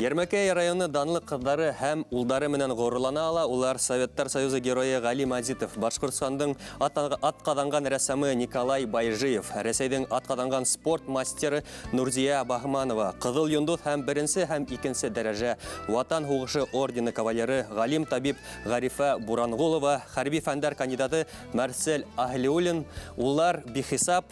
Ярмәкәй районы данлы кызлары һәм улдары менән горурлана ала, улар Советтар Союзы герое Гали Мазитов, Башкортстандың атказанган рәссамы Николай Байжиев, Рәсәйдең атказанган спорт мастеры Нурзия Баһманова, Кызыл йондыз һәм беренче һәм икенче дәрәҗә Ватан һугышы ордены кавалеры, галим-табиб Гарифә Бурангулова, хәрби фәннәр кандидаты Марсель Аһлиуллин, уллар бихисап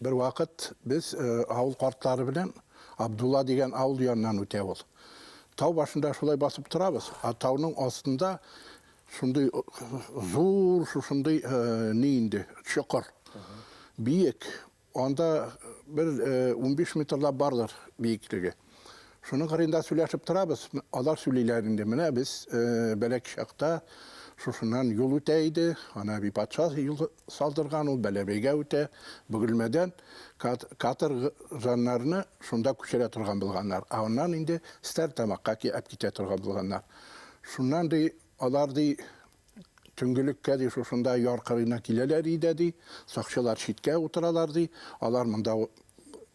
Бервакыт без авыл картлары белән Абдулла дигән авыл яныннан үтә ул. Тау башында шулай басып торабыз, а тауның астында шундый зур, шушындый ни инде, чокыр. Биек. Анда бер унбиш метрлап бардыр биеклеге. Шуның кырында сөйләшеп торабыз. Алар сөйлиләр инде. Менә без бәләк чакта шушыннан юл үтә иде. Ана би патша юл салдырган ул Бәләбәйгә үтә. Бөгелмәдән катыр жаннарны шунда күчерә торган булганнар. Ә аннан инде Стәр тамакка китә торган булганнар. Шуннан ди Алар, ди, төнгелеккә, ди, шушында яр кырыена киләләр идә, ди, сакчылар читкә утыралар, ди, алар монда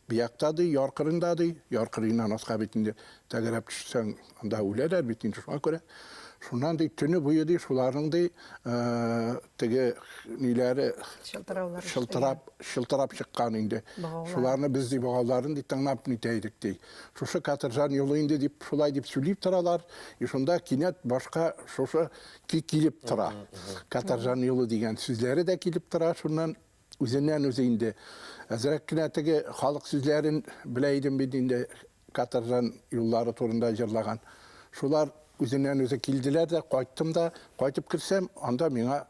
биякта, ди, яр кырыенда, ди, яр кырыеннан аска бит инде тәгәрәп төшсәң, анда үләләр бит инде, шуңа күрә, шуннан, ди, төне буе, ди, шуларның, ди, теге ниләре чылтырап чыккан инде, шуларны без, ди, богауларын, ди, тыңлап нитә идек, ди. Шушы каторжан юлы инде дип, шулай дип сөйлип торалар. И шунда кинәт башка шушы ки килеп тора. Каторжан юлы дигән сүзләре дә килеп тора. Шуннан үзеннән үзе инде әзрәк кенә теге халык сүзләрен белә идем бит инде каторжан юллары турында җырлаган. Шулар үзеннән үзе килделәр дә, кайттым да, кайтып керсәм, анда миңа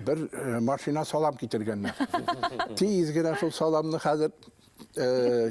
бер э, машина салам китергәннәр. Тиз генә шул саламны хәзер э,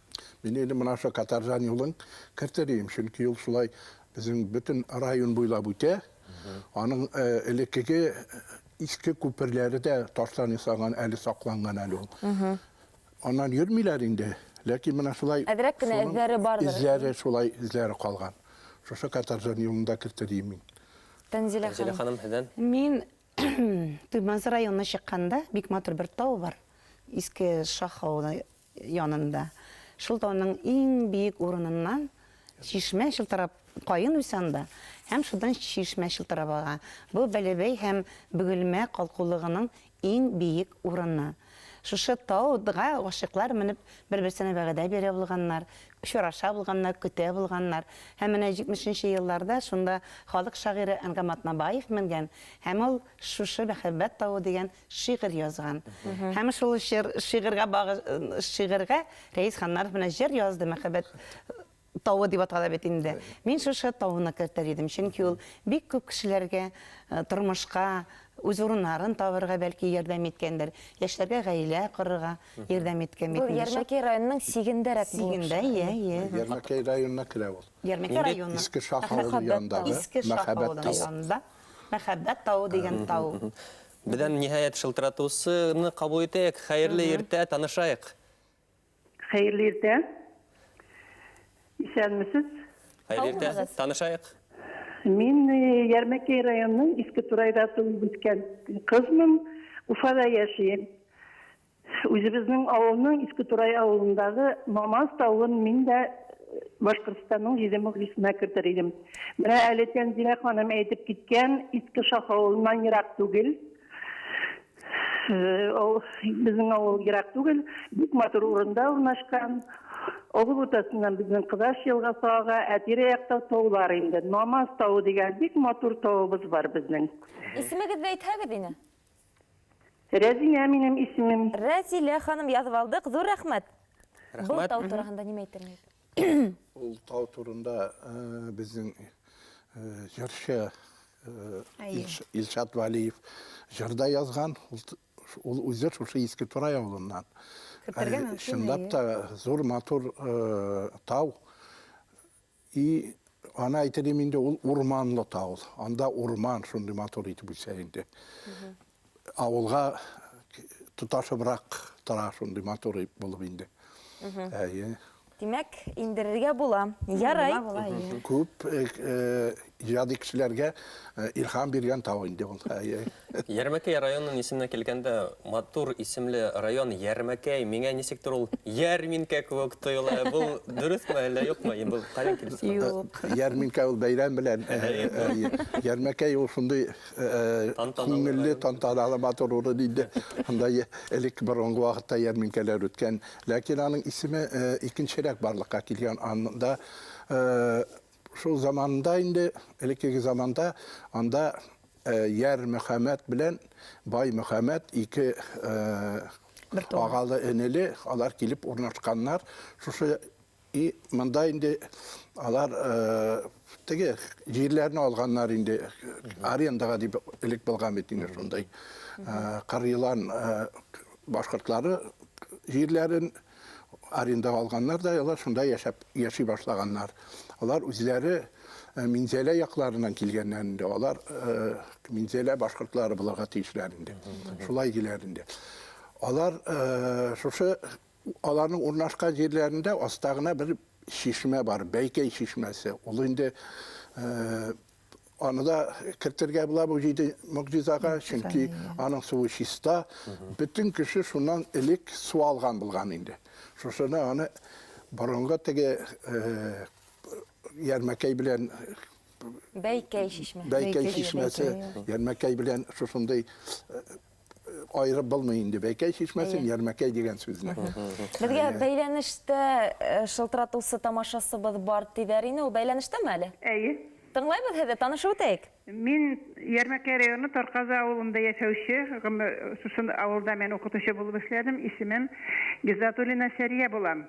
Мин инде менә шул Катаржан юлын кертер идем, чөнки ул шулай безнең бөтен район буйлап үтә. Аның э, элеккеге иске күперләре дә таштан ясаган, әле сакланган әле ул. Аннан йөрмиләр инде, ләкин менә шулай Әзрәк кенә шуның эзләре бардыр. Эзләре шулай эзләре калган. Шушы Катаржан юлында кертер идем мин. Тәнзилә Тәнзилә ханым. ханым һездән. Мин Туймазы районына чыкканда бик матур бер тау бар. Иске Шах авылы янында, шул тауның иң биек урыныннан чишмә чылтырап, каен үсә анда, һәм шудан чишмә чылтырап ага. Бу Бәләбәй һәм Бөгелмә калкулыгының иң биек урыны. Шушы тау-га гашыйклар менеп, бер-берсенә вәгъдә бирә булганнар, очраша булганнар, көтә булганнар. Һәм менә җитмешенче елларда шунда халык шагыйре Әнгам Атнабаев менгән һәм ул шушы Мәхәббәт тавы дигән шигырь язган. Һәм шул шигырьгә шигырьгә Рәис Ханнаров менә җыр язды, мәхәббәт тавы дип атала бит инде. Мин шушы тавыны кертер идем, чөнки ул бик күп кешеләргә э, тормышка үз урыннарын табырга бәлки ярдәм иткәндер, яшьләргә гаилә корырга ярдәм иткән бит. Бу Ярмәкәй районының сигендәрәк булып. Сигендә, иә, иә. Ярмәкәй районына керә ул. Ярмәкәй районы. Иске Шах авылы янында. Иске Шах авылы янында. Мәхәббәт тавы дигән тау. Бердәм ниһаять шылтыратусыны кабул итәек. Хәерле иртә, танышайк. Хәерле иртә. Исәнмесез. Хәерле иртә. Танышайк. Мин Ярмәкәй районының Иске Турайда туып үскән кызмын. Уфада яшим. Үзебезнең авылның Иске Турай авылындагы Мамаз тавын мин дә Башкортстанның җиде могҗисына кертер идем. Менә әле Тәнзилә ханым әйтеп киткән Иске Шах авылыннан ерак түгел, безнең авыл ерак түгел, бик матур урында урнашкан. Авыл уртасыннан безнең Кызаш елгасы ага, ә тирә-якта таулар инде. Мамаз тавы дигән бик матур тавыбыз бар безнең. Исемегезне әйтһәгез ине. Рәзинә минем исемем. Рәзилә ханым язып алдык, зур рәхмәт! Рәхмәт. Бу тау турагында нимә әйтерлек? Ул тау турында безнең җырчы Илшат Вәлиев җыр да язган. Ул үзе шушы Иске Турай авылыннан. Чынлап та зур матур тау. И аны әйтелим инде ул урманлы тау. Анда урман шундый матур итеп үсә инде. Авылга тоташыбрак тора шундый матур булып инде. Әйе. Димәк, индерергә була. Ярай. Күп җади кешеләргә илһам биргән тау инде ул. Әйе. Ярмәкәй районын исеменә килгәндә, матур исемле район Ярмәкәй, миңа ничектер ул ярминкә кебек тоела. Бу дөресме әллә юкмы? Ин бу каян килеп чыга? Юк. Ярминкә ул бәйрәм белән. Ярмәкәй ул шундый күңелле, тантаналы, матур урын инде. Анда элек борынгы вакытта ярминкәләр үткән. Ләкин аның исеме икенчерәк барлыкка килгән. Анда Шул заманында инде, элеккеге заманда анда Яр Мөхәммәт белән Бай Мөхәммәт ике агалы энеле алар килеп урнашканнар. Шушы и монда инде алар теге җирләрне алганнар инде арендага дип элек булган бит инде шундай. Кырыйлан башкортлары җирләрен арендага алганнар да, алар шунда яшәп яши башлаганнар. Алар үзләре э, Минзәлә якларыннан килгәннәр инде. Алар э, Минзәлә башкортлары булырга тиешләр инде. Шулай диләр инде. Алар э, шушы аларның урнашкан җирләрендә аста гына бер чишмә бар, Бәйкәй чишмәсе. Ул инде Аны да кертергә була бу җиде могҗизага, чөнки аның суы чиста. Бөтен кеше шуннан элек су алган булган инде. Шушыны аны борынгы теге э, ярмәкәй белән Бәйкәй чишмәсе. Бәйкәй чишмәсе, ярмәкәй белән шушындый э, аерып булмый инде бәйкәй чишмәсен ярмәкәй дигән сүзне безгә бәйләнештә э, шылтыратусы тамашасыбыз бар диләр инде ул бәйләнештәме әле әйе тыңлайбыз һезе танышып үтәйек мин ярмәкәй районы тарказы авылында яшәүче шушы авылда мен укытучы булып эшләдем исемем гизатуллина сәрия булам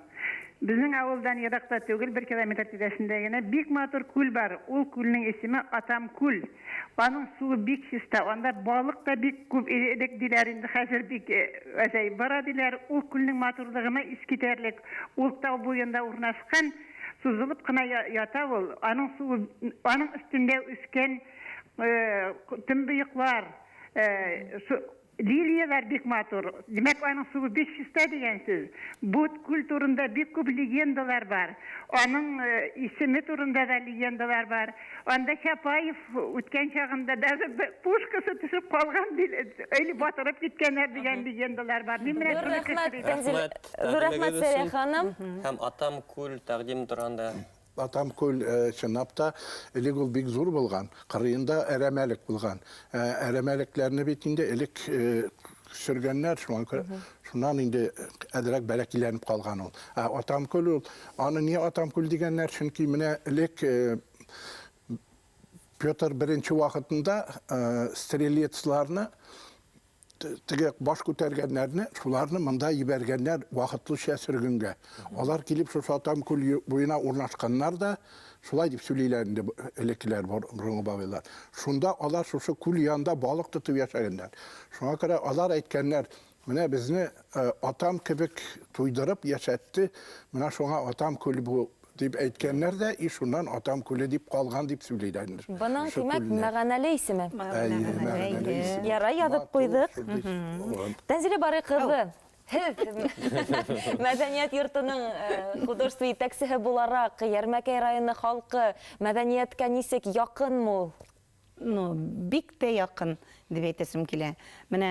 Безнең авылдан еракта түгел, бер километр тирәсендә генә бик матур күл бар. Ул күлнең исеме Атам күл. Аның суы бик чиста. Анда балык та бик күп иде элек, диләр, инде хәзер бик азаеп бара, диләр. Ул күлнең матурлыгына искитәрлек. Ул тау буенда урнашкан, сузылып кына ята ул. Аның суы, аның өстендә үскән төнбоеклар, Лилияләр бик матур. Димәк, аның суы бик чиста дигән сүз. Бу күл турында бик күп легендалар бар. Аның исеме турында да легендалар бар. Анда Чапаев үткән чагында даже пушкасы төшеп калган или батырып киткәннәр дигән легендалар бар. Мин менә шуны кычкырыйм. Рәхмәт, Фәнзилә ханым. Һәм Атам күл тәкъдиме турында. Атам күл, чынлап та, элек ул бик зур булган. Кырыенда әрәмәлек булган. Әрәмәлекләрне бит инде элек сөргәннәр, шуңа күрә шуннан инде әзрәк бәләкиләнеп калган ул. Ә Атам күл ул, аны ни Атам күл дигәннәр, чөнки менә элек Петр беренче вакытында стрелецларны теге баш күтәргәннәрне, шуларны монда ебәргәннәр вакытлыча сөргенгә. Алар килеп шушы Атам күл буена урнашканнар да, шулай дип сөйлиләр инде элеккеләр борынгы бабайлар. Шунда алар шушы күл янында балык тотып яшәгәннәр. Шуңа күрә алар әйткәннәр, менә безне э, атам кебек туйдырып яшәтте, менә шуңа атам күл бу Дип әйткәннәр дә, и шуннан Атам күле дип калган дип сөйлиләрдер. Бының, димәк, мәганәле исеме. Ярай, язып куйдык. Тәнзилә Барый кызы, һез мәдәният йортының художество итәкчесе буларак, Ярмәкәй районы халкы мәдәнияткә ничек, якынмы ул? ну, бик тә якын дип әйтәсем килә. Менә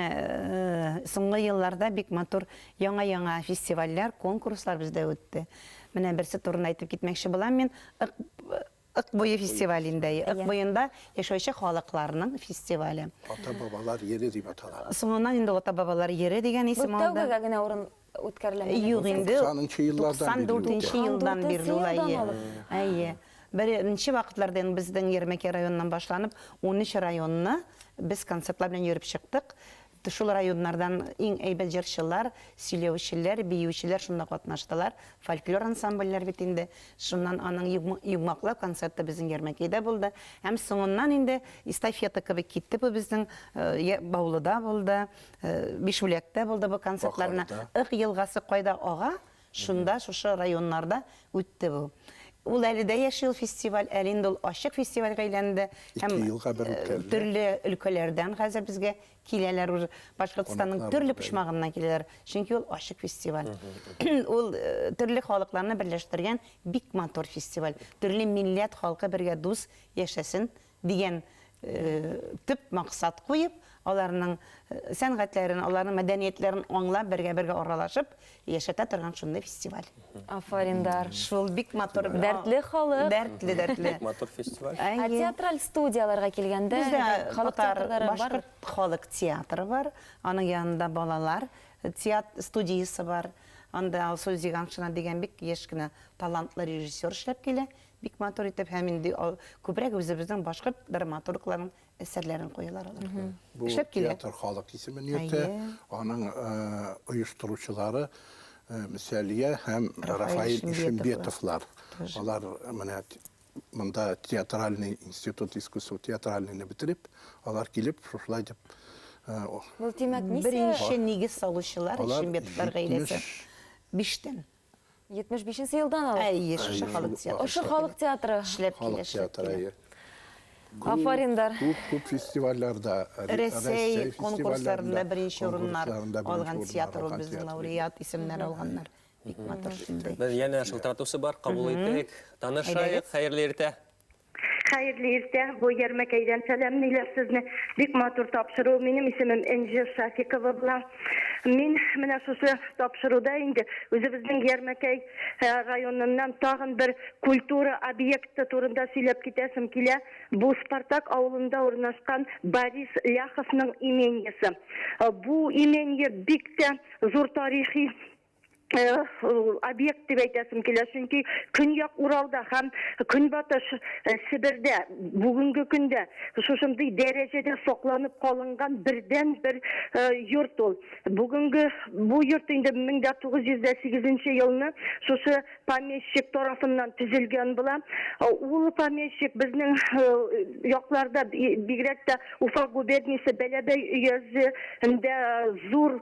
соңгы елларда бик матур яңа-яңа фестивальләр, конкурслар бездә үтте. Менә берсе турында әйтеп китмәкче булам мин. Ык буе фестивалендә, Ык буенда яшәүче халыкларның фестивале. Ата-бабалар йире дип атала. Соңыннан инде ата-бабалар йире дигән исем алды. Бу тәүгегә генә урын үткәрелә. Юк инде. 90 еллардан бирле. 94 елдан бирле ул әйе. Әйе. Беренче вакытларда инде безнең Ермәкәй районыннан башланып, 13 районны без концертлар белән йөреп чыктык. Шул районнардан иң әйбәт җырчылар, сөйләүчеләр, биючеләр шунда катнаштылар. Фольклор ансамбльләр бит инде. Шуннан аның йомгаклау концерты безнең Ярмәкәйдә булды. Һәм соңыннан инде эстафета кебек китте бу безнең Баулыда булды, Бишбүләктә булды бу концертларына. Ык елгасы кайда ага, шунда, шушы районнарда үтте бу. Ул әле дә яши ул фестиваль, әле инде ул ачык фестивальгә әйләнде. Һәм төрле өлкәләрдән хәзер безгә киләләр уже. Башкортстанның төрле почмагыннан киләләр, чөнки ул ачык фестиваль. Ул төрле халыкларны берләштергән бик матур фестиваль. Төрле милләт халкы бергә дус яшәсен Дигән төп максат куеп, аларның сәнгатьләрен, аларның мәдәниятләрен аңлап, бергә-бергә аралашып яшәтә торган шундый фестиваль. Афарин, дар. Шул бик матур. Дәртле халык. Дәртле, дәртле. Бик матур фестиваль. Ә театраль студияләргә килгәндә, халык театры бар? Бездә татар, башкорт халык театры бар. Аның янында балалар студиясе бар. Анда Алсу Зиганшина дигән бик яшь кенә талантлы режиссер эшләп килә. Бик матур итеп һәм инде күбрәк үзебезнең башкорт драматургларының әсәрләрен куялар алар. Бу театр халык исемен йөртә, аның оештыручылары Мсәлия һәм Рафаил Ишембетовлар. Алар менә монда театральный институт искусств театральныйны бетереп, алар килеп шушылай дип Бу димәк, беренче нигез салучылар Ишембетовлар гаиләсе. Биштән. 75 нче елдан алып. Әйе, шушы халык театры. Шушы халык театры эшләп килә. Халык театры. Афариндар. Күп күп фестивальләрдә, Рәсәй конкурсларында беренче урыннар алган театр ул безнең лауреат исемнәр алганнар. Бик матур шундый. Без янә шылтыратучы бар, кабул итик. Танышайык, хәерле иртә. Хәерле иртә, бу Ярмәкәйдән сәламлиләр сезне. Бик матур тапшыру. Минем исемем Энҗе Шафикова була. Мин менә шушы тапшыруда инде үзебезнең Ярмәкәй э, районыннан тагын бер культура объекты турында сөйләп китәсем килә. Бу Спартак авылында урнашкан Борис Ляховның имениясе. Э, бу имение бик тә зур тарихи объект дип әйтәсем килә, чөнки Көньяк Уралда һәм Көнбатыш Себердә бүгенге көндә шушындый дәрәҗәдә сакланып калынган бердәнбер йорт ул. Бүгенге бу йорт инде 1908 елны шушы помещик тарафыннан төзелгән була. Ул помещик безнең якларда, бигрәк тә Уфа губерниясе Бәләбәй өязендә зур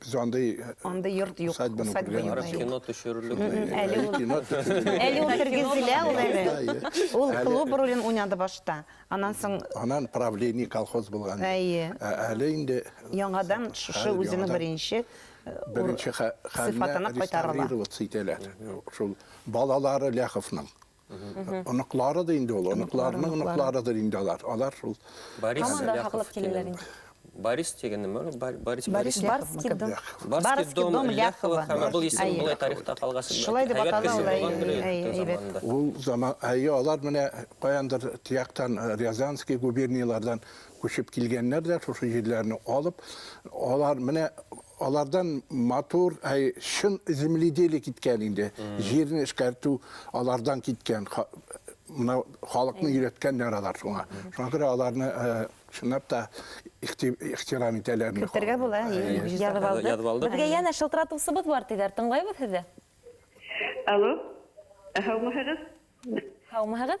Без андый Андый йорт юк, усадьбаны усадьба күргән юк. Барып юк. кино төшерерлек. Мгм, әле Әле ул- кино төшерелә. Әле ул тергезелә ул әле. Әйе. Ул Әле- клуб ролен уйнады башта. Аннан соң Анан правление колхоз булган. Әйе. Ә- Әле инде яңадан шушы Хәзер үзенең яңадан беренче э, ур- беренче хә- хәленә сыйфатына кайтарыла. реставрироваться итәләр. Шул балалары Ляховның. Оныклары да инде ул, оныкларының оныкларыдыр инде алар. Алар шул. Борис Ляхов килгән. Борис дигән нәмә ул? Борис Борис Барский дом. Барский дом Ляхова. Һәм бу исем булай тарихта калган. Шулай дип атала ул. Әйбәт. Ул заман, әйе, алар менә каяндыр тияктан Рязанский губернияләрдән Күчеп килгәннәр дә шушы җирләрне алып, алар менә алардан матур, әй, чын земледелие киткән инде. Җирне эшкәртү алардан киткән. Мына халыкны өйрәткәннәр алар шуңа. Шуңа күрә аларны чынлап та ихтирам итәләр. Көтәргә була. Язып алдык. Язып алдык. Безгә янә шылтыратучыбыз бар диләр. Тыңлыйбыз сезне. Алло. Һаумыһыгыз? Һаумыһыгыз?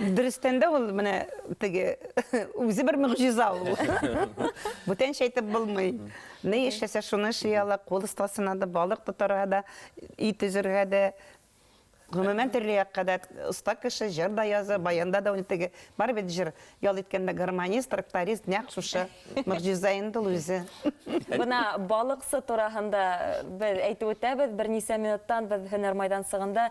Дөрестән дә ул менә теге үзе бер могҗиза ул. Бүтәнчә әйтеп булмый. Ни эшләсә шуны эшли ала, кул остасына да, балык тотарга да, өй төзергә дә, гомумән төрле якка да оста кеше, җыр да яза, баянда да уйный теге. Бар бит җыр, ял иткәндә гармонист, тракторист, нәкъ шушы могҗиза инде ул үзе. Менә балыксы турагында без әйтеп үтәбез, берничә минуттан без һөнәр майданчыгында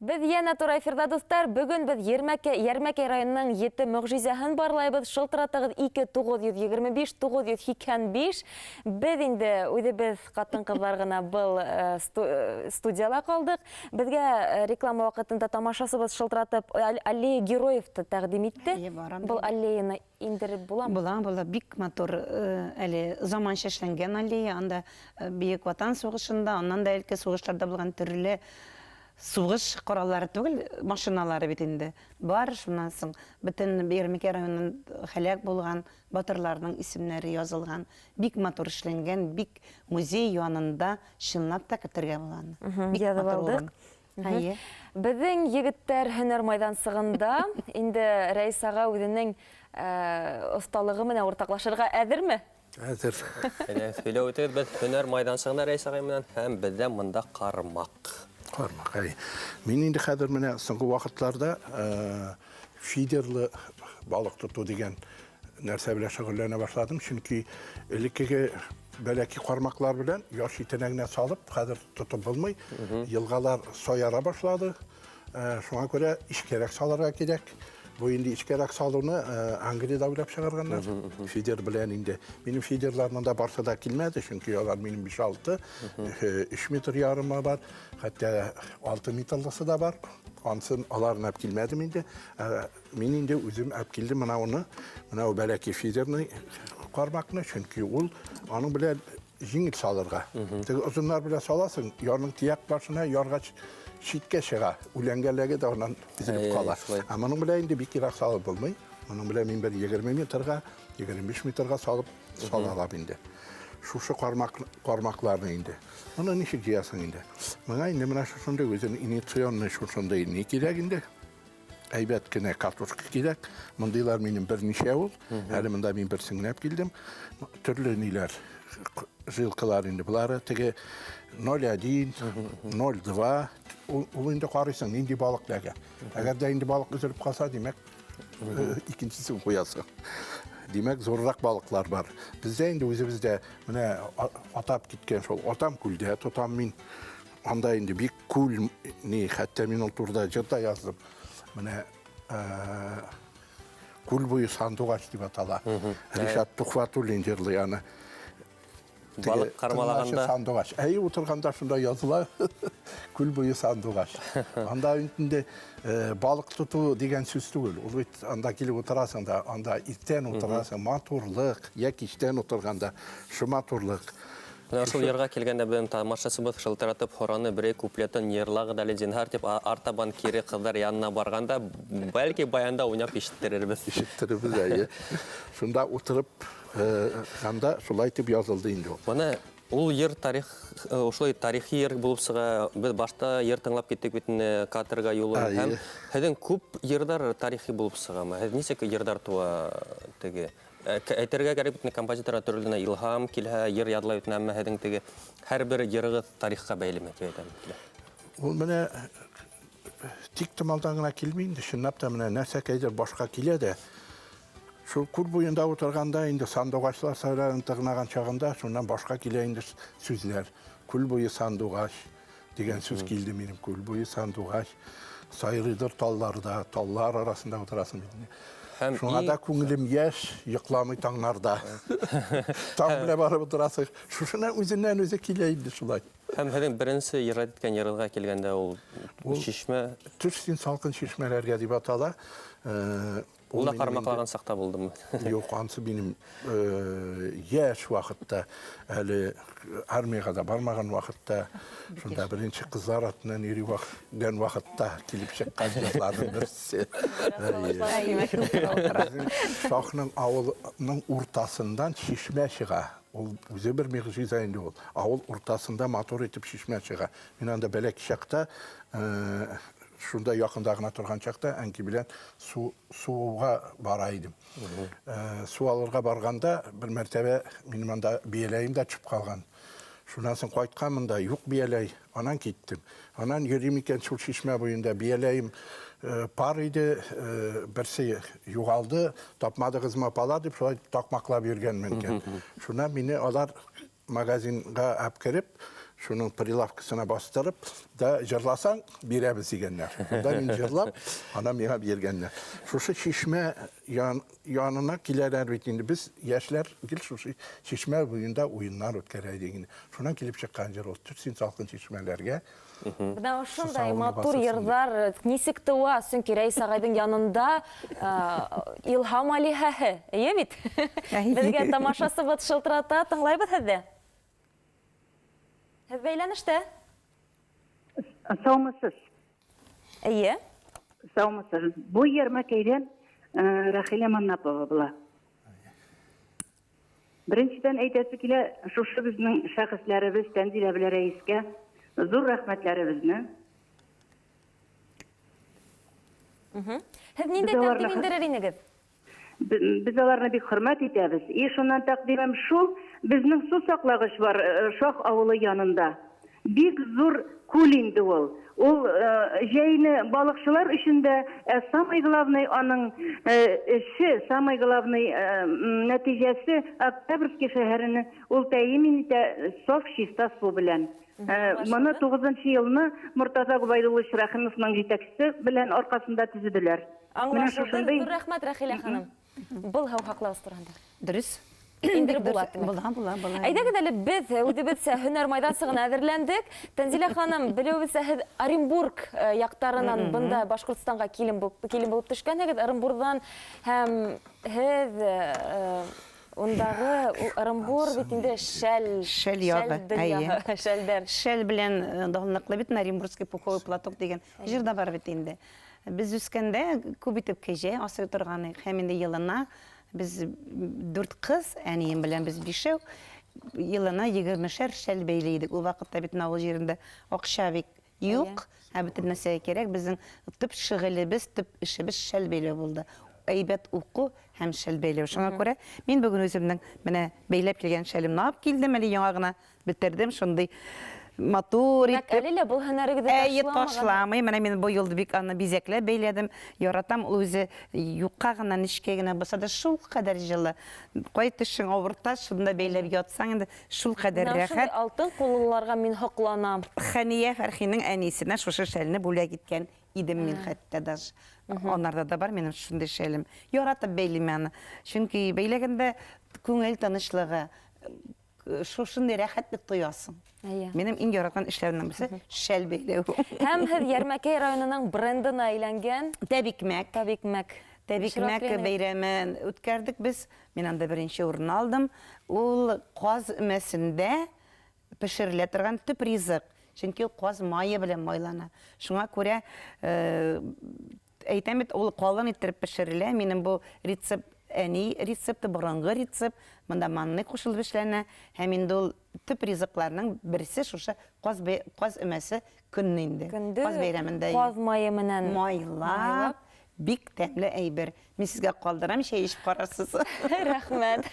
Без янә туры эфирда, дуслар. Бүген без Ермәккә, Ярмәкәй районының ете мөгъҗизәһен барлайбыз. Шылтыратыгыз 2 925 985. Без инде үзебез катын-кызлар гына был э, сту- э, студияла калдык. Безгә э, реклама вакытында тамашасыбыз шылтыратып аллея героев тәкъдим итте. Әйе, барам Был аллеяны иңдереп буламы? Була, була. Бик матур әле заманча эшләнгән аллея. Анда Бөек Ватан сугышында, аннан да элке сугышларда булган төрле сугыш кораллары түгел, машиналары бит инде бар. Шуннан соң бөтен Ярмикә районын һәлак булган батырларның исемнәре язылган. Бик матур эшләнгән, бик музей янында чынлап та кертергә була аны. Бик матур урын. Әйе. Безнең егеттәр һөнәр майдансыгында инде Рәис ага үзенең осталыгы менә уртаклашырга әзерме? Әзер. Әнә сөйләп үтегез, без һөнәр майдансыгында Рәис агай менән һәм бездә монда кармак. Кармак, әй. Мин инде хәзер менә соңгы вакытларда фидерлы балык тоту дигән Нәрсә белән шөгыльләнә башладым, чөнки элеккеге бәләки кармаклар белән яш итенә генә салып, хәзер тотып булмый. Елгалар саяра башлады. Э, шуңа күрә ишкәрәк салырга кирәк. Бу инде ишкәрәк салуны э, Англиядә уйлап чыгарганнар. Фидер белән инде. Минем фидерларның да барсы да килмәде, чөнки алар минем 5-6, 3 метр ярымы бар, хәтта 6 метрлысы да бар. Ансын аларнап килмәдем инде. Ә, Мин инде үзем алып килдем менә уны, менә ул бәләкәй фидерный кармакны, чөнки ул аның белән җиңел салырга. Теге озыннар белән саласың, ярның тияк башына яргач читкә чыга, үләнгәләге дә аннан изелеп кала. Ә моның белән инде бик ерак салып булмый. Моның белән мин бер 20 метрга, 25 метрга салып сала алам инде. Шушы кармак кармакларны инде. Моны ничек җыясың инде? Моңа инде менә шушындый үзен иницион шушындый ни кирәк инде. Әйбәт кенә картошка кирәк. Мондыйлар минем берничә ул. Әле монда мин бер сеңләп килдем. Төрле ниләр жилкалар инде болары теге 01, 02 ул инде карыйсың нинди балык ләгә. Әгәр дә инде балык өзелеп калса, димәк, э, икенчесен куясың. Димәк, зуррак балыклар бар. Бездә инде үзебездә менә атап киткән шул. Атам күлдә тотам мин. Анда инде бик күл ни, хәтта мин ул турыда җыр да яздым. Менә күл буе сандугач дип атала. Ришат Тухватуллин җырлый аны. Балык кармалаганда. Сандугач. Әй, утырганда шунда языла. Күл буе сандугач. Анда инде балык тоту дигән сүз түгел. Ул бит анда килеп утырасың да, анда иртән утырасың, матурлык, я кичтән утырганда, шу матурлык. Менә шул йырга килгәндә безнең тамашачыбыз шылтыратып һораны, Берәй куплетын йырлагыз әле, зинһар, дип артабан кире кызлар янына барганда, бәлки, баянда уйнап ишеттерербез. Ишеттерербез, әйе. Шунда утырып, анда шулай итеп язылды инде ул. Менә ул йыр тарих, шулай тарихи йыр булып чыга. Без башта йыр тыңлап киттек бит инде, Каторга юлы. Һәм сезнең күп йырлар тарихи булып чыгамы? Сез ничек йырлар туа теге? Э, әйтергә кәрәк бит композитор төрле илһам килһә йыр ядлай бит әмма һезнең теге һәрбер йырыгыз тарихка бәйлеме дип әйтәм ул менә тик томалдан гына килми инде чынлап та менә нәрсәкәйдер башка килә дә шул күл буенда утырганда инде сандугачлар сайрарын тырнаган чагында шуннан башка килә инде сүзләр күл буе сандугач Дигән сүз килде минем күл буе сандугач сайрыйдыр талларда, таллар арасында утырасың бит. Һәм Шуңа да күңелем яшь, йокламый таңнарда. Таң белән барып утырасың. Шушына үзеннән үзе килә инде шулай. Һәм һинең беренче ирад иткән ярыга килгәндә ул чишмә. Төш син салкын чишмәләргә дип атала. Э, Ул да кармаклаган сакта булдымы? Юк, ансы минем яшь вакытта, әле армиягә дә бармаган вакытта, шунда беренче кызлар атынан йөри вакыт, вакытта килеп чыккан кызларның берсе. Шахның авылының уртасыннан чишмә чыга. Ул үзе бер мигъҗиза инде ул. Авыл уртасында матур итеп чишмә чыга. Мин анда бәләкәй чакта Шунда якында гына торган чакта әнки белән су суга бара идем. Су алырга барганда бер мәртәбә минем анда бияләем дә төшеп калган. Шуннан соң кайтканмын да, юк бияләй. Анан киттем. Анан йөрим икән шул чишмә буенда. Бияләем э, пар иде, э, берсе югалды, тапмадыгызмы апалар дип шулай такмаклап йөргәнмен икән. Шуннан мине алар Магазинга ап кереп, шуның прилавкасына бастырып, да җырласаң, бирәбез дигәннәр. Монда мин җырлап, ана миңа биргәннәр. Шушы чишмә ян, янына киләләр бит инде. Без яшьләр гел шушы чишмә буенда уеннар үткәрә идек инде. Шуннан килеп чыккан җыр ул. Төшсин салкын чишмәләргә, Менә шундай матур йырлар ничек туа? Чөнки Рәис агайдың янында илһам алиһәһе, әйе бит? Безгә тамашасы бот шылтырата, тыңлайбыз сезне. Сез бәйләнештә. Саумысыз. Әйе. Саумысыз. Бу ярмәкәйдән Рахилә Маннапова була. Беренчедән әйтәсе килә, шушы безнең шәхесләребез Тәнзилә белә рәискә зур рәхмәтләребезне. Һез ниндәй тәкъдим индерер инегез? Без аларны бик хөрмәт итәбез. И шуннан тәкъдимем шул, безнең су саклагыч бар, э, Шах авылы янында. Бик зур күл инде ул. Ул җәйне балыкчылар өчен дә, ә самый главный аның эше, самый главный нәтиҗәсе, Октябрьский шәһәренең ул тәэмин итә саф чиста су белән. Моны тугызынчы елны Мортаза Гобәйдуллович Рәхимовның җитәкчесе белән аркасында төзеделәр. Менә шушындый. Аңлашылды. Зур рәхмәт, Рәхилә ханым. Был һәм хаклавыз турында. Дөрес. Инде була. Була, була, була. Әйдәгез әле без үзебезчә һөнәр майдасы гына әзерләндек. Тәнзилә ханым, белүебезчә һез Оренбург э, яктарынан бында Башкортстанга килен булып килен булып төшкәнегез. Оренбургдан һәм һез э, э, Ундагы Ырымбур бит инде шәл шәл ягы. Шәлдән. Шәл белән данлыклы бит Оренбургский пуховый платок дигән Җыр да бар бит инде. Без үскәндә күп итеп кәҗә асрый торган идек һәм инде елына без дүрт кыз, әнием белән без бишәү, елына егермешәр шәл бәйли идек. Ул вакытта бит авыл җирендә акча бик юк, ә бөтен нәрсәгә кирәк. Безнең төп шөгылебез, төп эшебез шәл бәйләү булды. Әйбәт уку һәм шәл бәйләү. Шуңа күрә мин бүген үземнең менә бәйләп килгән шәлемне алып килдем, әле яңа гына Бетердем шундый матур Димәк, итеп. әле лә бу һөнәрегезне Әйе, ташламаган. ташламый. Менә мин бу елда бик аны бизәкләп бәйләдем. Яратам ул үзе юкка гына, нечкә генә булса да шул кадәр җылы. Кай тешең авырта, шунда бәйләп ятсаң инде шул кадәр Менә шундый рәхәт. алтын куллыларга мин хокланам. Хәния Фәрхинең әнисенә шушы шәлне бүләк иткән идем мин хәтта даже. Анарда да бар минем шундый шәлем. Яратып бәйлим аны. Чөнки бәйләгәндә күңел тынычлыгы, шушындай рәхәтлек тоясың. Әйе. Минем иң яраткан эшләремнең берсе шәл бәйләү. Һәм һез Ярмәкәй районының брендына әйләнгән Тәбикмәк. Тәбикмәк. Тәбикмәк бәйрәмен үткәрдек без. Мин анда беренче урын алдым. Ул каз өмәсендә пешерелә торган төп ризык. Чөнки ул каз мае белән майлана. Шуңа күрә э, Әйтәм бит, ул калын иттереп пешерелә. Минем бу рецепт әни рецепты, борынгы рецепт. Монда манный кушылып эшләнә. Һәм инде ул төп ризыкларның берсе шушы каз каз өмәсе көнне инде. Каз бәйрәмендә. Каз мае менән майлап. Бик тәмле әйбер. Мин сезгә калдырам, чәй эчеп карарсыз. Рәхмәт.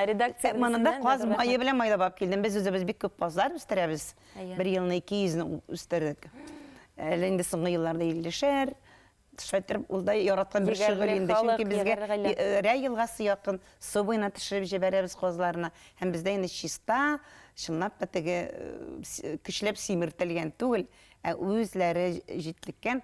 Редакция. Монда каз мае белән майлап алып килдем. Без үзебез бик күп казлар үстерәбез. Бер елны 200 ны үстердек. Әле инде соңгы елларда 50-шәр, шайтырып ул да яраткан бер шөгыль инде чөнки безгә Рә елгасы якын су буена төшереп җибәрәбез казларны һәм бездә инде чиста чынлап та теге көчләп симертелгән түгел ә үзләре җитлеккән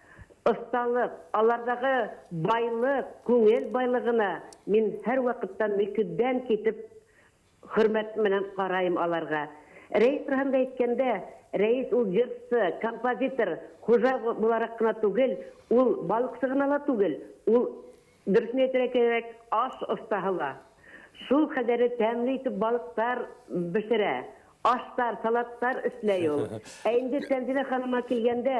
Осталык, алардагы байлык, күңел байлыгына мин һәрвакытта мөкиббән китеп хөрмәт менән караем аларга. Рәис турында әйткәндә, Рәис ул җырчы, композитор, хуҗа буларак кына түгел, ул балыкчы гына ла түгел, ул, дөресен әйтергә кирәк, аш остаһы ла. Шул кадәре тәмле итеп балыклар бешерә, ашлар, салатлар эшләй ул. Ә инде Тәнзилә ханымга килгәндә,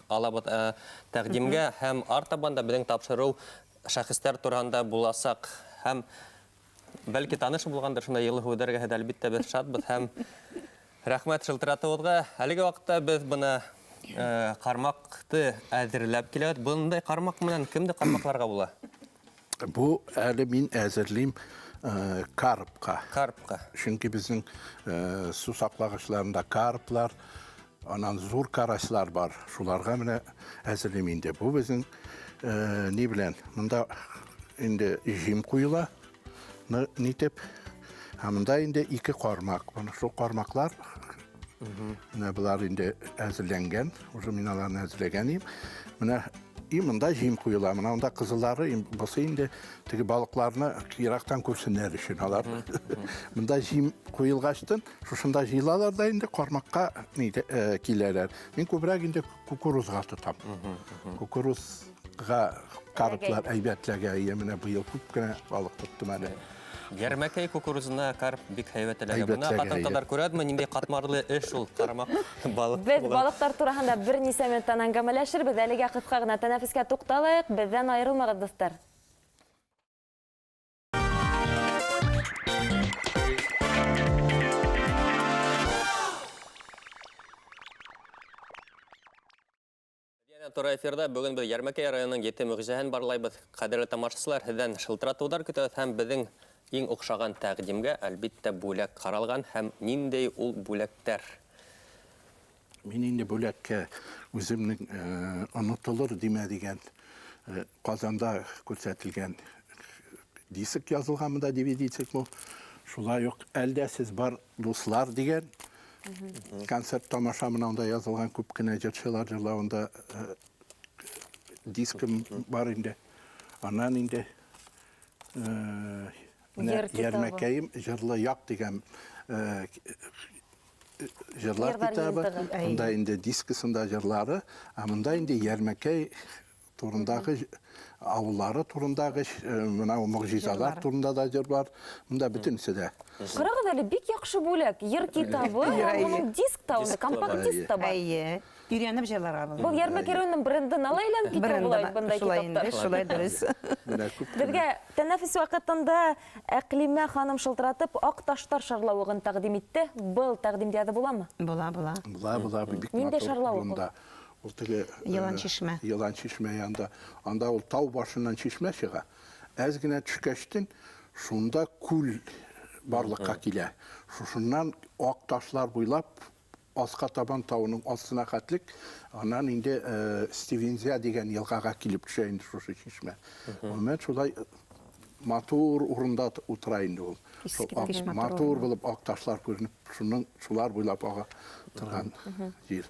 Алабыз ә, тәкъдимгә һәм артабан да безнең тапшыру шәхесләр турында буласак һәм бәлки таныш булгандыр шунда елы һүдәргә һәм әлбиттә без шатбыз һәм рәхмәт шылтыратуыгызга. Әлеге вакытта без бына кармакты әзерләп киләбез. Бундай кармак менән кемне кармакларга була? Бу әле мин әзерлим карпка. Карпка. Чөнки безнең су саклагычларында карплар, анан зур карачлар бар. Шуларга менә әзерлим инде. Бу безнең ни белән? Монда инде җим куела. Нитеп? Ә монда инде ике кармак. Шул кармаклар Менә болар инде әзерләнгән. Уже мин аларны әзерләгән идем. Менә и монда җим куела. Менә монда кызыллары, бусы инде теге балыкларны ерактан күрсеннәр өчен алар. Монда җим куелгачтын, шушында җыелалар да инде кармакка э, киләләр. Мин күбрәк инде кукурузга тотам. Кукуруз Га карплар әйбәтләгә ия менә быел күп кенә балык тоттым әле. Ярмәкәй кукурузына карп бик һәйбәт эләгә. Моны хатын кызлар күрәдме, нинди катмарлы эш ул кармак балык. Без балыклар турында берничә минуттан әңгәмәләшербез. Әлегә кыска гына тәнәфескә тукталыйк. Бездән аерылмагыз, дуслар. Туры эфирда бүген без Ярмәкәй районының ете мөгъҗизәһен барлайбыз. Кадерле тамашачылар, сездән шылтыратулар көтәбез һәм безнең иң охшаган тәкъдимгә, әлбиттә, бүләк каралган һәм ниндәй ул бүләкләр? Мин инде бүләккә үземнең онытылыр димә дигән Казанда күрсәтелгән диск язылган монда DVD диск бу. Шулай ук Әлдә сез бар дуслар дигән концерт тамаша менә анда язылган күп кенә җырчылар җырлавында э, дискым бар инде аннан инде э, ярмәкәем җырлы як дигән э, җырлар китабы мында инде дискысында җырлары ә мында инде ярмәкәй турындагы авыллары турындагы менә могҗизалар турында да җыр бар. Монда бөтенесе дә. Карагыз әле, бик яхшы бүләк. Җыр китабы, моның диск та, компакт диск та бар. Әйе. Өйрәнеп җырларга була. Бу Ярмәкәй районының брендына ла әйләнеп китә була бит мондай китаптар. Шулай дөрес. Безгә тәнәфес вакытында Әкълимә ханым шылтыратып Ак ташлар шарлавыгын тәкъдим итте. Был тәкъдимгә дә буламы? Була, була. Була, була. Нинди шарлавык ул? Ул теге Елан чишмә. Елан чишмә янында. Анда ул тау башыннан чишмә чыга. Әз генә төшкәчтен, шунда күл барлыкка килә. Шушыннан ак ташлар буйлап аска табан тауның астына хәтлек, аннан инде Стивензя дигән елгага килеп төшә инде шушы чишмә. Гомумән, шулай матур урында утыра инде ул. Искиткеч матур. Матур булып ак ташлар күренеп, шуның шулар буйлап ага торган җир.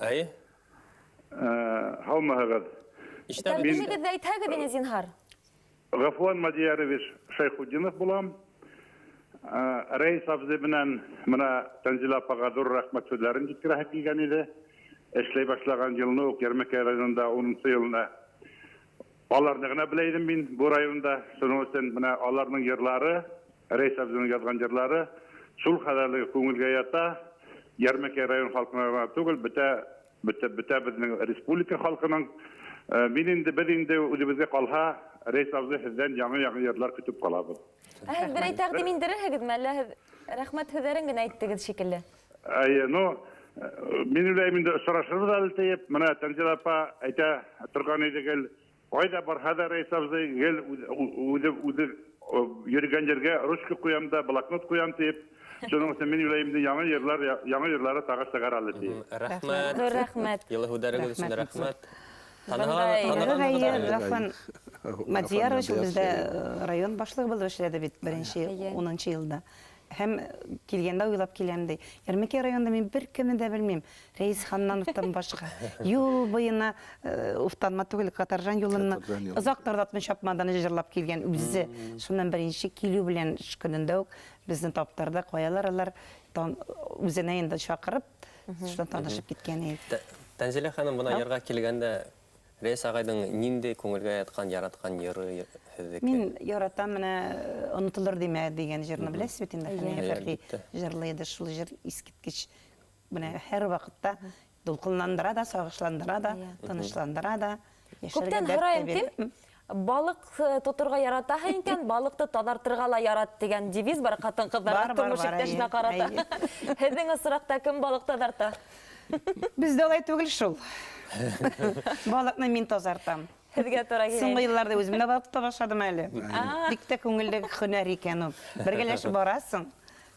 Әй? Һаумыһыгыз. Ишетәбез. Үзегез дә әйтһәгез инде, зинһар. Гафуан Мадиярович Шайхудинов булам. Рәис абзый белән менә Тәнзилә апага зур рәхмәт сүзләрен җиткерәһе килгән иде. Эшләй башлаган елны ук Ярмәкәй районында унынчы елны Аларны гына белә идем мин бу районда, шуның өчен менә аларның җырлары, Рәис абзыйның язган җырлары шул кадәрле күңелгә ята, Ярмәкәй район халкына гына түгел, бөтә бөтә бөтә безнең республика халкының. Мин инде, без инде, үзебезгә калһа, Рәис абзый, сездән яңа-яңа җырлар көтеп калабыз. Ә һез берәй тәкъдим индерерһегезме, әллә һез рәхмәт һүзләрен генә әйттегез шикелле? Әйе, ну, мин уйлыйм инде очрашырбыз әле диеп, менә Тәнзилә апа әйтә торган иде гел, кайда барһа да Рәис абзый гел үзе йөргән җиргә ручка куям да, блокнот куям дип, шуның өчен мин уйлыйм инде яңа җырлар, яңа җырлары тагы чыгар әле диеп. Рәхмәт. Зур рәхмәт. Җылы һүзләрегез өчен рәхмәт. Гафан Мадиярович ул бездә район башлыгы булып эшләде бит беренче унынчы елда. Һәм килгәндә уйлап киләм ди. Ярмәкәй районында мин бер кемне дә белмим. Рәис Ханнановтан башка. Юл буена уфтанма түгел, Катаржан юлыннан озак тарлатмый чапмадан җырлап килгән үзе. Шуннан беренче килү белән эш көнендә үк безне таптырды. Каялар алар үзенә инде чакырып, Шунда танышып киткән идек. Тәнзилә ханым бына ярга килгәндә Рәис агайның нинди күңелгә яткан, яраткан йыры һезнеке? Мин яратам менә Онытылыр димә дигән җырны беләсез бит инде. Хәния Фәрхи җырлый иде шул җыр искиткеч. Менә һәрвакытта дулкынландыра да, сагышландыра да, тынычландыра да. Күптән һораем ким, Балык тотырга яратаһың икән, балыкты тазартырга ла ярат, дигән девиз бар хатын-кызларда тормыш иптәшенә карата. Һезнең осракта кем балык тазарта? Бездә алай түгел шул. Балыкны мин тазартам. Һезгә туры килә. Соңгы елларда үзем дә балык тота башладым әле. Бик тә күңелле һөнәр икән ул. Бергәләшеп барасың,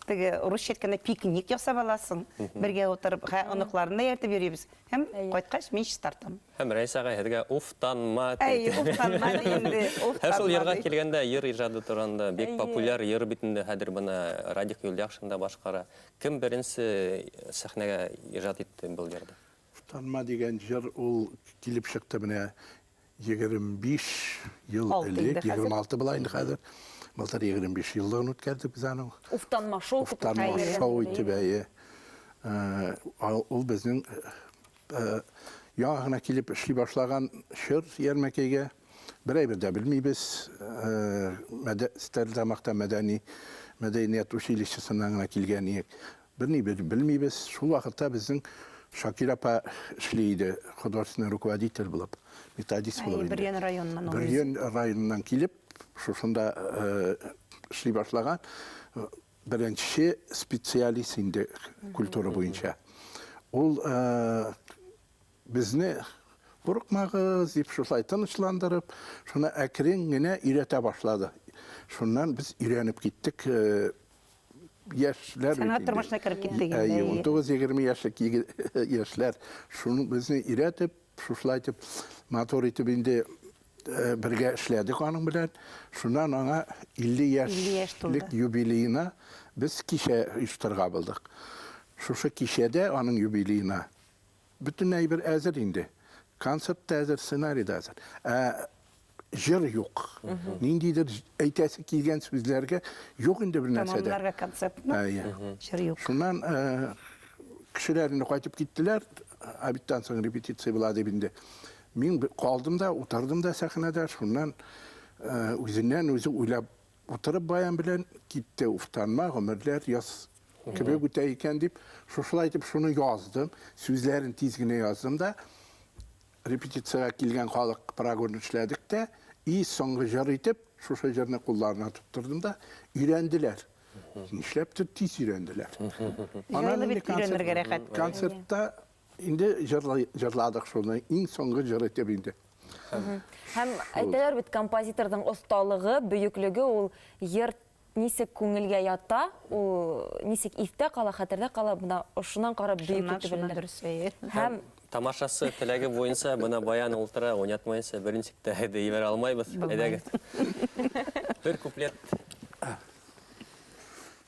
теге рус щетканы пикник ясап аласың, бергә утырып, оныкларны да ияртеп йөрибез һәм кайткач мин чистартам. Һәм Рәис ага һезгә уфтанма тип. Әй, уфтанма ди инде, уфтанма ди. Һәм шул йырга килгәндә, йыр иҗады турында, бик популяр йыр бит инде хәзер моны Радик Юльяхшин да башкара. Кем беренче сәхнәгә иҗат итте был йырды? Уфтанма дигән җыр ул килеп чыкты менә 25 ел элек, 26 була инде хәзер. Былтыр 25 еллыгын үткәрдек без аның. Уфтанма шоу. Уфтанма шоу итеп, әйе. Ул безнең Яңа гына килеп эшли башлаган чор ярмәкәйгә бер әйбер дә белмибез. Стәрлетамакта мәдәни мәдәният училищесыннан гына килгән иек. Берни белмибез. Шул вакытта безнең Шакир апа эшли иде, художественный руководитель булып, методист булып. Бөрьян районыннан ул. Бөрьян районыннан килеп, шушында эшли башлаган. Беренче специалист инде культура буенча. Ул безне курыкмагыз дип шулай тынычландырып, шуны әкрен генә өйрәтә башлады. Шуннан без өйрәнеп киттек. Яшьләр Сәнгать тормышына кереп киттек инде. 19-20 яшьлек яшьләр шуны безне өйрәтеп, шушылай итеп матур итеп инде Э, бергә эшләдек аның белән. Шуннан аңа 50 яшьлек юбилеена без кичә оештырга булдык. Шушы кичәдә аның юбилеена бөтен әйбер әзер инде. Концерт та әзер, сценарий да әзер. Ә җыр юк. Ниндидер әйтәсе килгән сүзләргә юк инде бер нәрсә дә. Тамамларга концертны. Җыр юк. Шуннан э, кешеләр инде кайтып киттеләр. Обедтан соң репетиция була дип инде. Мин калдым да, утырдым да сәхнәдә, шуннан үзеннән-үзе уйлап утырып баян белән китте. Уфтанма, гомерләр яз кебек үтә икән дип, шушылай итеп шуны яздым. Сүзләрен тиз генә яздым да, репетициягә килгән халык прогон эшләдек тә, и соңгы җыр итеп, шушы җырны кулларына тоттырдым да, өйрәнделәр. Нишләптер тиз өйрәнделәр. Җайлы бит өйрәнергә рәхәт. Концертта Инде җырлый, җырладык шуны, иң соңгы җыр итеп инде. Һәм әйтәләр бит, композиторның осталыгы, бөеклеге ул йыр нисек күңелгә ята, ул нисек истә кала, хәтердә кала, бына ошынан карап бөек Шуннан, итеп шуннан белдер. дөрес әйе. Һәм Тамашасы теләге буенча бына баян ултыра, уйнатмаенча берничек тә әйдә ибәрә алмайбыз. Әйдәгез. Бер куплет.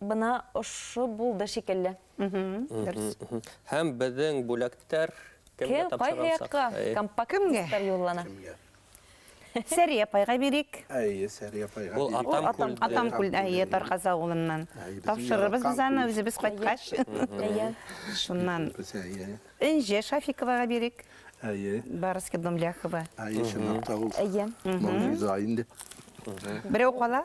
Бына ошо булды шикелле. Дөрес. Һәм безнең бүләктәр кемгә тапшырылсак? Кайгы якка компакт юллана. Сәри апайга бирик. Әйе, Сәри апайга бирик. Ул атам күлдә. Атам күлдә, әйе, Тарказ авылыннан. Тапшырырбыз без аны үзебез кайткач. Әйе. Шуннан. Энҗе Шафиковага бирик. Әйе. Барыски дом Ляхова. Әйе, чынлап та ул. Әйе. Мондый зай инде. Берәү кала?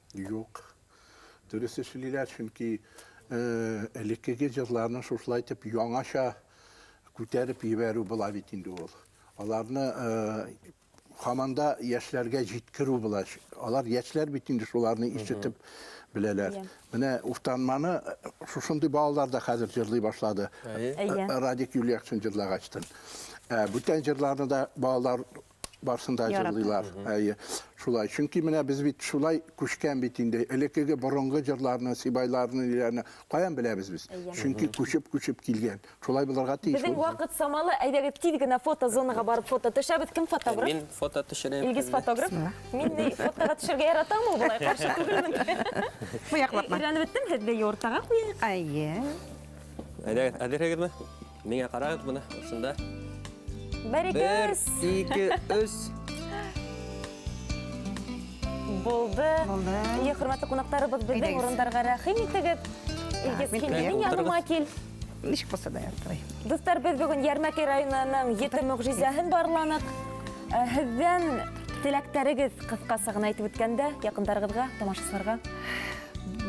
Юк. Дөрес эшлиләр, чөнки элеккеге җырларны шушылай итеп яңача күтәреп ебәрү була бит инде ул. Аларны хаманда яшьләргә җиткерү була. Алар яшьләр бит инде шуларны ишетеп беләләр. Менә Уфтанманы шушындый балалар да хәзер җырлый башлады. Радик Юльякшин җырлагачтын. Бүтән җырларны да балалар Барсын да җырлыйлар. Әйе. Шулай. Чөнки менә без бит шулай күчкән бит инде. Элеккеге борынгы җырларны, сибайларны, ниләрне каян беләбез без? Чөнки күчеп-күчеп килгән. Шулай булырга тиеш. Безнең вакыт самалы, әйдәгез тиз генә фотозонага барып фото төшәбез. Кем фотограф? Мин фото төшерәм. Илгиз фотограф. Мин ни фотога төшәргә яратам ул болай каршы түгелмен. Бу яклапма. Өйрәнеп беттем, һедле юртага куяйк. Әйе. Әйдәгез, әзерһегезме? Миңа карагыз моны, шунда. Бер, ике, өс. Бер, ике, өс. Булды. Булды. Ие, хөрмәтле кунакларыбыз, безнең урындарга рәхим итегез. Илгиз, килдең яныма кил. Ничек булса да яртылай. Дуслар, без бүген Ярмәкәй районының ете мөгъҗизәһен барланык. Э, һездән теләктәрегез кыскасы гына әйтеп үткәндә, якындарыгызга, тамашачыларга.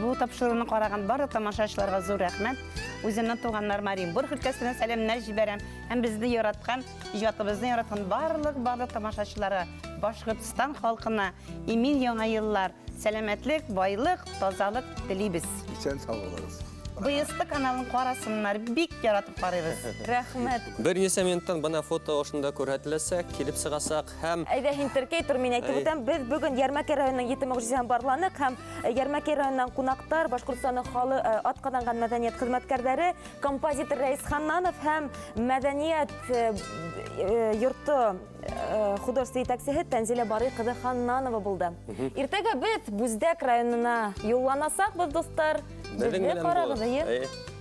Бу тапшыруны караган барлык тамашачыларга зур рәхмәт. Үземнең туганнар Мариенбург өлкәсенә сәламнәр җибәрәм һәм безне яраткан, иҗатыбызны яраткан барлык барлык тамашачыларга, Башкортстан халкына имин яңа еллар, сәламәтлек, байлык, тазалык телибез. Исән сау булыгыз. Быйысты каналын карасыннар, бик яратып карыйбыз. Рәхмәт. Берничә минуттан бына фото ошында күрһәтеләсәк, килеп сыгасак, барланык һәм Әйдә һин теркәй тор, мин әйтеп үтәм. Без бүген Ярмәкәй районының Ете мөгъҗизә һәм барланык һәм э, Ярмәкәй районыннан кунактар Башкортстанның халы э, атказанган мәдәният хезмәткәрләре, композитор Рәис Ханнанов һәм мәдәният э, э, йорты э, художество итәксеһе Тәнзилә Барый кызы Ханнанова булды. Иртәгә без Бүздәк районына юлланасакбыз, дуслар. Безнең Безне белән карагыз, булыгыз. әйе. Әйе.